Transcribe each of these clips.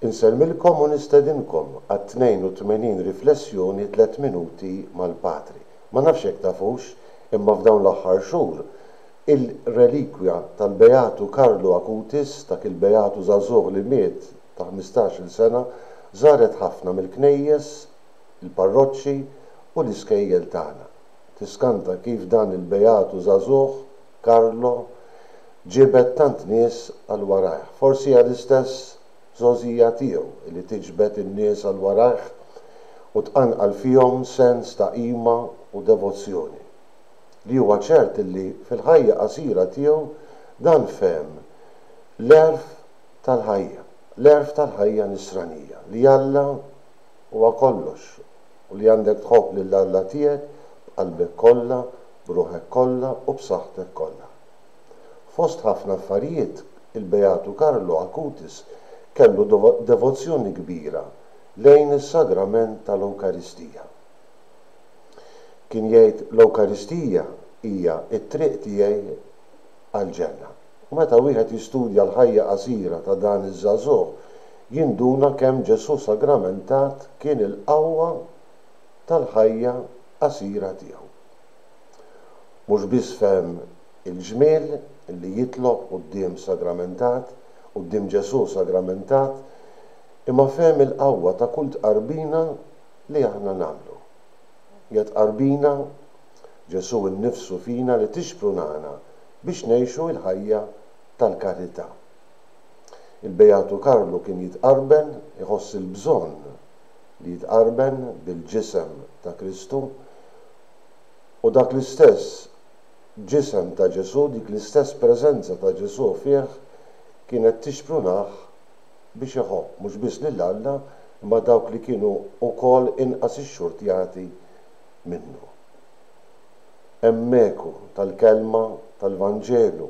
Insellmilkom u nistedinkom għat-82 riflessjoni Tliet Minuti mal-Patri. Ma nafx jekk tafux, imma f'dawn l-aħħar xhur, il-relikwja tal-Beatu Karlu Acutis, dak il-beatu żagħżugħ li miet ta' ħmistax-il sena, żaret ħafna mill-knejjes, il-parroċċi u l-iskejjel tagħna. Tiskanta kif dan il-beatu żagħżugħ, Carlo ġibed tant nies għal warajh. Forsi hija l-istess żgħożija tiegħu li tiġbed in-nies għal warajh u tqanqal fihom sens ta' qima u devozzjoni. Li huwa ċert illi fil-ħajja qasira tiegħu dan fehem l-għerf tal-ħajja, l-għerf tal-ħajja nisranija, li Alla huwa kollox u li għandek tħobb lil Alla tiegħek b'qalbek kollha, b'ruħek kollha u b'saħħtek kollha. Fost ħafna affarijiet, il-Beatu Carlo Acutis kellu devozzjoni kbira lejn is-Sagrament tal-Ewkaristija. Kien jgħid, L-Ewkaristija hija t-triq tiegħi għall-ġenna. U meta wieħed jistudja l-ħajja qasira ta' dan iż-żagħżugħ, jinduna kemm Ġesù sagramentat kien il-qawwa tal-ħajja qasira tiegħu. Mhux biss fehem il-ġmiel li jitlob quddiem sagramentat, quddiem Ġesù sagramentat, imma fehem il-qawwa ta' kull tqarbina li aħna nagħmlu. Hija tqarbina Ġesù nnifsu fina li tixprunana biex ngħixu l-ħajja tal-karità. Il-Beatu Karlu kien jitqarben, iħoss il-bżonn li jitqarben bil-Ġisem ta' Kristu, u dak l-istess Ġisem ta' Ġesù, dik l-istess preżenza ta' Ġesù fih kienet tixprunah biex iħobb mhux biss lil Alla imma dawk li kienu wkoll inqas ixxurtjati minnu. Hemm eku tal-kelma tal-Vanġelu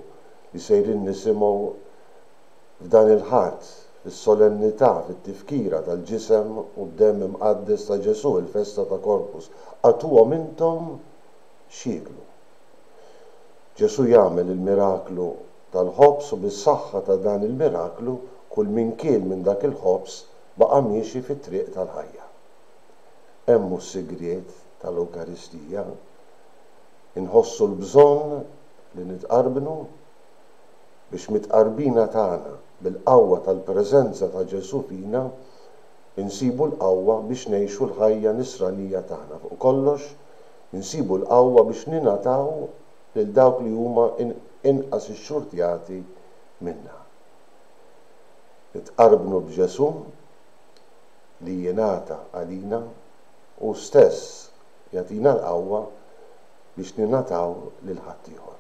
li sejrin nisimgħu f'dan il-Ħadd, fis-solennità, fit-tifkira tal-Ġisem u d-Demm Imqaddes ta' Ġesù, il-festa ta' Corpus, Agħtuhom intom x'jieklu. Ġesù jagħmel il-miraklu tal-ħobż u bis-saħħa ta' dan il-miraklu kull min kiel minn dak il-ħobż baqa' miexi fit-triq tal-ħajja. hemm hu s-sigriet tal-Ewkaristija. Inħossu l-bżonn li nitqarbnu? Biex mit-tqarbina tagħna bil-qawwa tal-preżenza ta' Ġesù fina, insibu l-qawwa biex ngħixu l-ħajja nisranija tagħna, fuq kollox, insibu l-qawwa biex ningħataw lil dawk li huma inqas ixxurtjati minna. Nitqarbnu b'Ġesù? li jingħata għalina, hu stess jagħtina l-qawwa biex ningħataw lil ħaddieħor.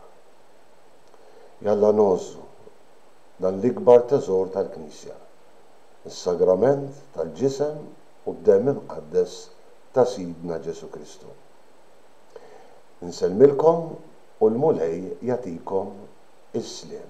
Jalla ngħożżu dan l-ikbar teżor tal-Knisja, is-Sagrament tal-Ġisem u d-Demm Imqaddes ta' Sidna Ġesù Kristu. Insellmilkom u l-Mulej jagħtikom is-sliem.